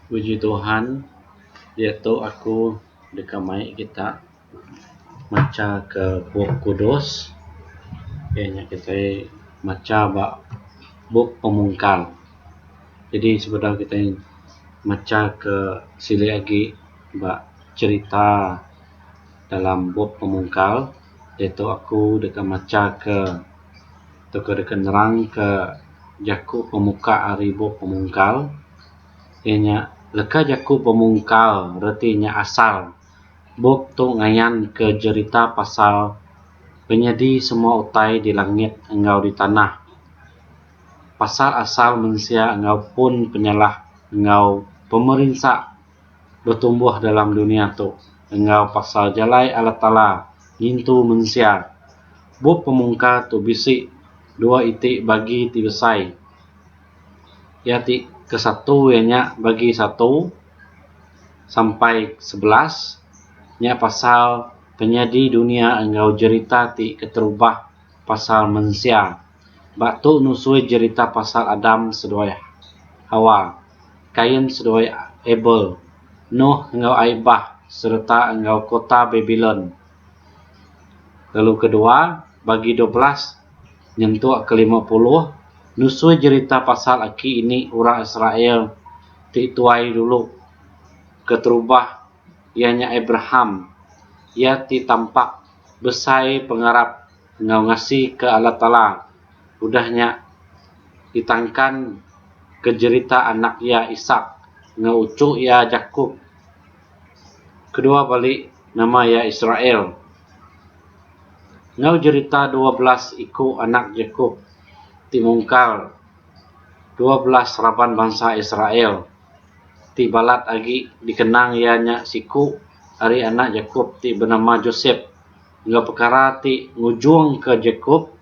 Puji Tuhan diatu aku deka mai kita macha ka bup kudus iya nya kitai macha ba bup pemungkar jadi sebedau kitai macha ka sili agi ba cherita dalam bup pemungkar diatu aku deka macha ka tauka deka nerangka jaku pemuka ari bup pemungkal iya nya leka jaku pemungkal reti nya asal bup tu ngayanka jerita pasal penyadi semua utai di langit enggau di tanah pasal asal mensia enggau pun penyalah enggau pemerinsa betumbuh dalam dunya tu enggau pasal jalai Allah Taala ngintu mensia. Bup Pemungkar tu bisi dua iti bagi ti besai iya ti ke satu iya nya bagi satu sampai sebelas nya pasal penyadi dunya enggau jerita ti keterubah. pasal mensia. Ba tu nusui jerita pasal Adam seduai Hawa, Kain seduai Abel, Nuh enggau ai bah sereta enggau kota Babilon lalu kedua bagi dua belas nyentuk ke lima puluh nusui jerita pasal aki ini orang Israel ti tuai dulu keterubah iya nya Abraham, iya ti tampak. besai pengarap enggau ngasika Allah Taala udah nya ditangkan ke jerita anak iya Ishak enggau uchu iya Jakop kedua bali nama iya Israel. Enggau jerita dua belas iku anak Jakop ti mungkal dua belas raban bansa Israel. ti balat agi dikenang iya nya siku ari anak Jakop ti benama Josep enggau pekara ti ngujungka Jakop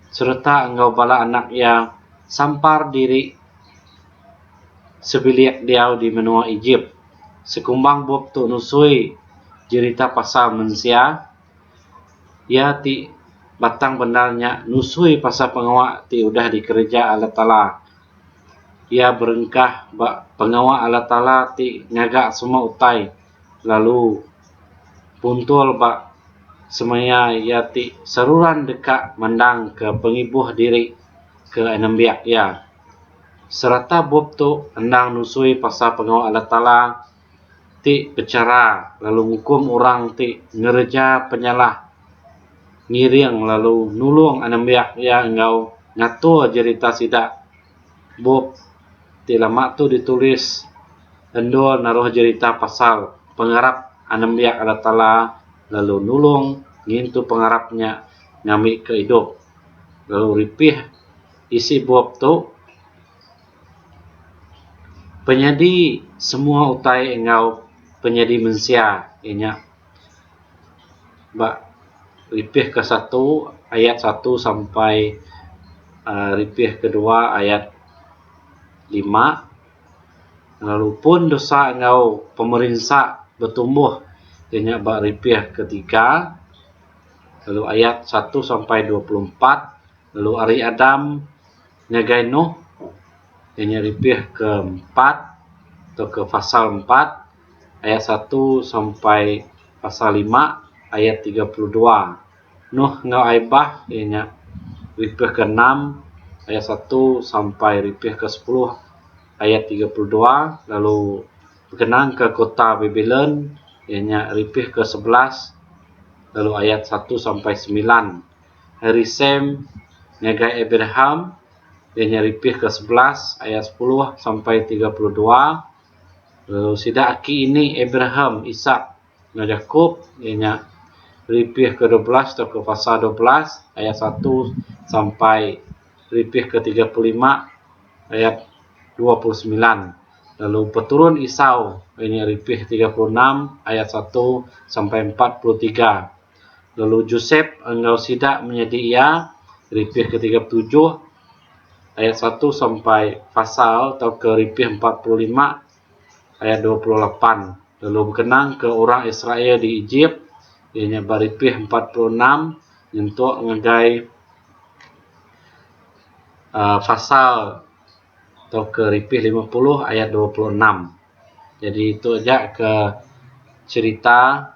sereta enggau bala anak iya sampar diri sebilik diau di menua Ejip. Sekumbang bup tu nusui jerita pasal mensia iya ti batang bendar nya nusui pasal pengawa ti udah dikereja Allah Taala. Iya berengkah ba pengawa Allah Taala ti ngaga semua utai lalu puntul ba semaya iya ti seruran deka mandangka pengibuh diri ke nembiak iya. Sereta bup tu endang nusui pasal pengawa Allah Taala. ti pechara lalu ngukum orang ti ngereja penyalah ngiring lalu nulung anembiak iya enggau ngatur jerita sida. Bup ti lama tu ditulis endur naruh jerita pasal pengarap anembiak Allah Taala lalu nulung ngintu pengarap nya ngambika idup. Lalu ripih isi bup tu. Penyadi semua utai enggau penyadi mensia iya nya ba ripih ke satu ayat satu sampai aaa ripih ke dua ayat lima lalu pun dosa enggau pemerinsa betumbuh iya nya ba ripih ke tiga lalu ayat satu sampai dua puluh empat lalu ari Adam Ngagai Noh, iya nya ripih ke empat tauka pasal empat ayat satu sampai pasal lima ayat tiga puluh dua. Noh enggau ai bah, iya nya ripih ke enam ayat satu sampai ripih ke sepuluh ayat tiga puluh dua lalu bekenang ke kota Babylon iya nya ripih ke sebelas lalu ayat satu sampai semilan. Hari Sem ngagai Abraham, iya nya Ripih ke sebelas ayat sepuluh sampai tiga puluh dua. Lalu sida aki ini Abraham, Isak enggau Jakop iya nya Ripih ke dua belas tauka Pasal dua belas ayat satu sampai Ripih ke tiga puluh lima ayat dua puluh semilan. Lalu peturun Isau iya nya Ripih tiga puluh enam ayat satu sampai empat puluh tiga. lalu Josep enggau sida menyadi iya, Ripih ketiga puluh tujuh ayat satu sampai pasal tauka Ripih empat puluh lima ayat dua puluh lapan lalu bekenang ke orang Israel di Ejip iya nya ba Ripih empat puluh enam nyentuk ngagai um pasal tauka Ripih lima puluh ayat dua puluh enam. Jadi tu aja ke cherita